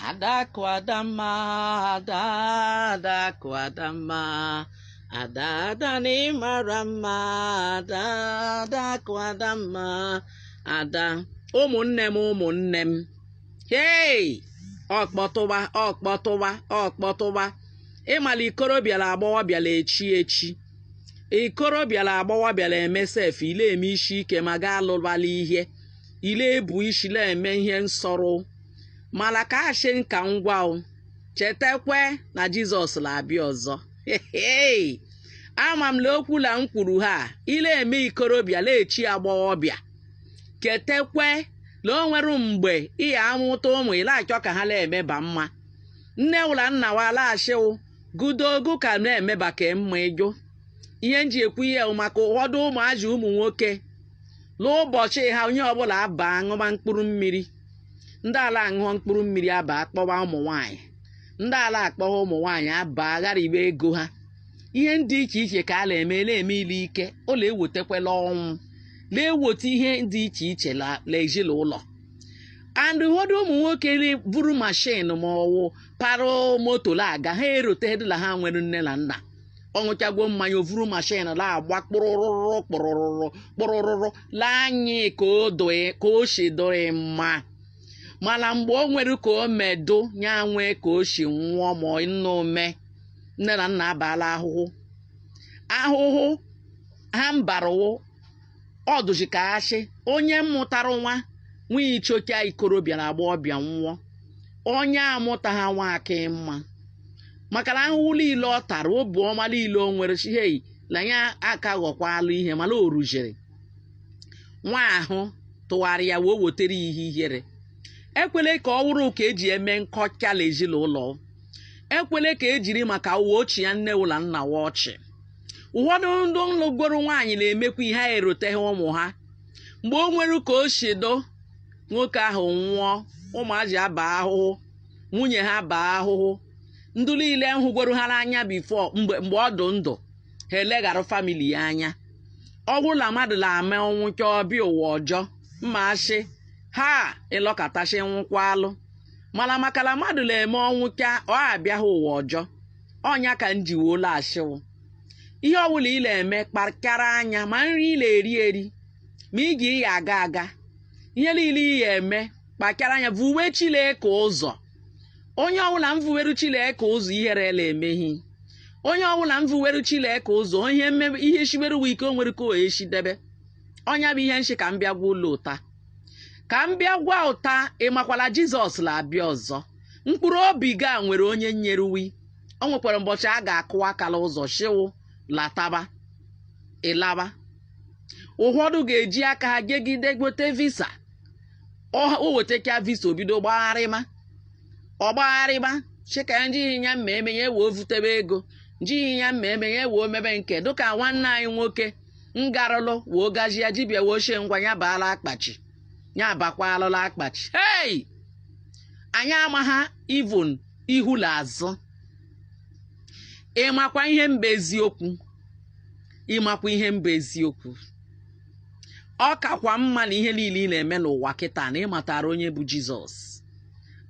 Adakụ Adamma ada adakụ Adamma ada ada na ịmara mma ada adakụ Adamma ada ụmụnne m ụmụnne m hei ọkpọtụwa ọkpọtụwa ọkpọtụwa ịmala ikorobịa la agbọghọbịa la-echi echi ikorobịa la agbọghọbịa la-eme sef ile eme isi ike ma gaa lụbala ihe ile ebu isi na-eme ihe nsọrọ mana ka asị nka ngwa o chetakwe na jizọs na-abịa ọzọ ama m na okwu na m kwuru ha ile eme ikorobịa na-echi agbọghọbịa chetakwe na o nwere mgbe ị ya amụta ụmụ ị na-achọ ka ha na-emeba mma nne wụ la nna wa la-aga asị wụ gudogu ka na-emeba ka mma ị jụ ihe nji ekwu ihe maka ụfọdụ ụmụazị ụmụ nwoke n'ụbọchị ha onye ọbụla abaa ṅụba mkpụrụ mmiri ndị ala aṅụọ mkpụrụ mmiri abaa kpọwa ụmụ nwaanyị ndị ala akpọwa ụmụ nwaanyị abaa ghariwe ego ha ihe ndị iche iche ka a na-eme na-eme ile ike ọ na-ewetakwala ọnwụ na-eweta ihe dị iche iche la- la ezinụlọ and ụfọdụ ụmụ nwoke ri- buru mashin ma ọwụ parụ moto la aga ha erotedịla ha nwere nne na nna ọ ṅụchagwo mmanya o vuru mashin na-agba kpụrụrụrụ kpụrụrụrụ kpụrụrụrụ la anyị ka o doe ka o si dụrị mma mana mgbe o nwere ka o medụ nya nwee ka o si nwụọ ma ọ nna ome nne na nna abala ahụhụ ahụhụ ha mbara wụ ọ dụzi ka asị onye mụtara nwa nwa ichocha ikorobịa na agbọghọbịa nwụọ onye amụta ha nwa aka mma maka na ahụhụ niile ọ tara obu ọma niile o nwere si hei na ya aka ghọkwalụ ihe mana o rujere nwa ahụ tụgharịa wee wetara ya ihe ihere ekwele ka ọ wụrụ ka eji eme nkọcha na ezinụlọ ekwele ka ejiri maka wụ chịa nne wụ la nna wa ọchị ụfọdụ ndị lụgoro nwaanyị na-emekwa ihe ha eroteghị ụmụ ha mgbe o nwere ka o si dụ nwoke ahụ nwụọ ụmụazị aba ahụhụ nwunye ha baa ahụhụ ndị niile hụgoro ha n'anya bifo mgbe mgbe ọ dị ndụ ha eleghara famili ya anya ọ bụrụ na mmadụ na-eme ọ nwụchaa ọ bịa ụwa ọjọọ m ma asị ha ịlọkọtasị nwụkwa alụ mana maka na mmadụ na-eme ọ nwụchaa ọ abịaghị ụwa ọjọọ ọ nya ka m ji wee ụlọ asị wụ ihe ọbụla ị na-eme kpakara anya ma nri ị na-eri eri ma ije ị ya aga aga ihe niile ị ya eme kpakara anya vuwe Chineke ụzọ onye ọbụla mvuweru Chineke ụzọ ihere na-emeghị onye ọbụla mvuweru Chineke ụzọ ihe ihe shiberuwe ike o nwere ka o eshi debe ọ nya bụ ihe nshi ka m bịa gwa ụlọ ụta ka m bịa gwa unu taa ị makwa la jizọs na-abịa ọzọ mkpụrụ obi gị a nwere onye nyeru gị o nwekwara ụbọchị a ga-akụ aka la ụzọ shị gị lataba ị laba ụfọdụ ga-eji aka ha gegide gote visa o wetecha visa o bido gbagharịma ọ gbagharịma chika ndị ya mma eme ya ewee vutebe ego ndị ya mma eme ya ewee mebe nke dịka nwanne anyị nwoke ngarụlụ woo gaji ya dibịa woo shị ngwa ya baa la akpachi ya bakwaalụ la akpachi hei anyị amaha ivun ihu na azụ ị makwa ihe mba eziokwu ị makwa ihe mba eziokwu ọ kakwa mma na ihe niile ị na-eme n'ụwa kịta na ị matara onye bụ jizọs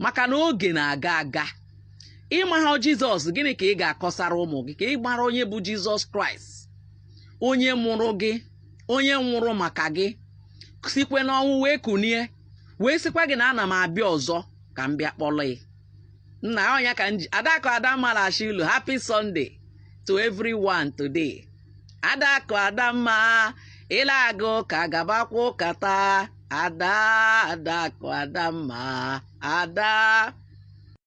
maka na oge na-aga aga ị maha jizọs gịnị ka ị ga-akọsara ụmụ gị ka ị mara onye bụ jizọs kraịst onye mụrụ gị onye nwụrụ maka gị sikwe n'ọnwụ wee kunie wee sikwa gị na ana m abịa ọzọ ka m bịa kpọrọ gị nna ọ nya ka m ji adakụ adamma la-ashị unu happy sunday to everyone today adakụ adamma ị la-aga ụka gabakwa ụka taa ada adakụ adamma ada